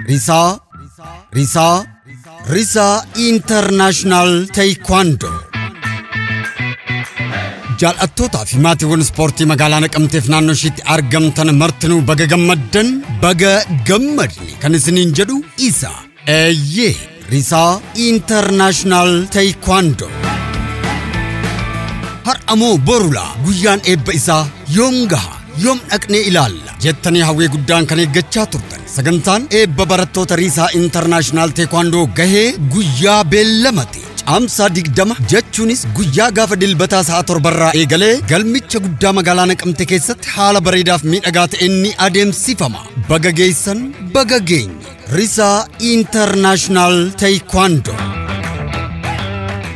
Risaa Risaa Risaa International Taekwondo Jaallattootaa fi maatiiwwan ispoortii magaalaa naqamteef naannoo ishiitti argamtan martinuu baga gammaddan baga gammadne kan isiniin jedhu isa Eeyyee, Risaa International Taekwondo. Har'a moo borula guyyaan eebba isaa yoom gaha? Yoom dhaqnee ilaalla? Jettanii hawwii guddaan kan eeggachaa turtan. Sagantaan eebba barattoota Riisaa Internaashinaal Teekwaandoo gahee guyyaa beellamate. Caamsaa 20 jechuunis guyyaa gaafa dilbataa sa'a torbarraa eegalee galmicha guddaa magaalaa Naqamte keessatti haala bareedaaf miidhagaa ta'een ni adeemsifama. Baga geessan, baga geenye. Risaa International Taekwondo.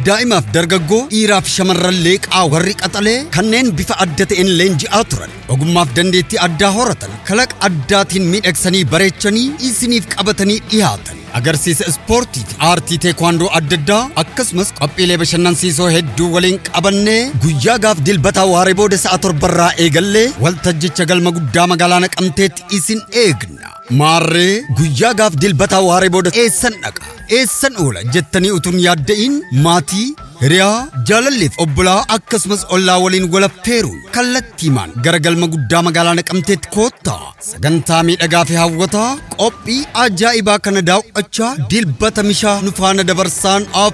Daa'imaaf dargaggoo dhiiraaf shamarran leeqaa warri qaxalee kanneen bifa adda ta'een leenji'aa turan ogummaaf dandeettii addaa horatan kalaqa addaatiin miidhagsanii bareechanii isiniif qabatanii dhiyaatan. Agarsiisa ispoortii fi aartii teekwaandoo adda addaa akkasumas qophiilee bashannansiisoo hedduu waliin qabannee guyyaa gaaf dilbataa waaree booda sa'a torbarraa eegallee waltajjicha galma guddaa magaalaa naqamteetti isin eegna. Maarree guyyaa gaaf dilbataa waaree booda eessan dhaqa eessan oola jettanii utuun yaadda'iin maatii hiriyaa jaalalleef obbolaa akkasumas ollaa waliin walafteeruun kallattiimaan gara galma guddaa magaalaa naqamteetti koottaa sagantaa miidhagaa fi hawwataa qophii ajaa'ibaa kana daaw'achaa dilbata mishaa nufaana dabarsaan af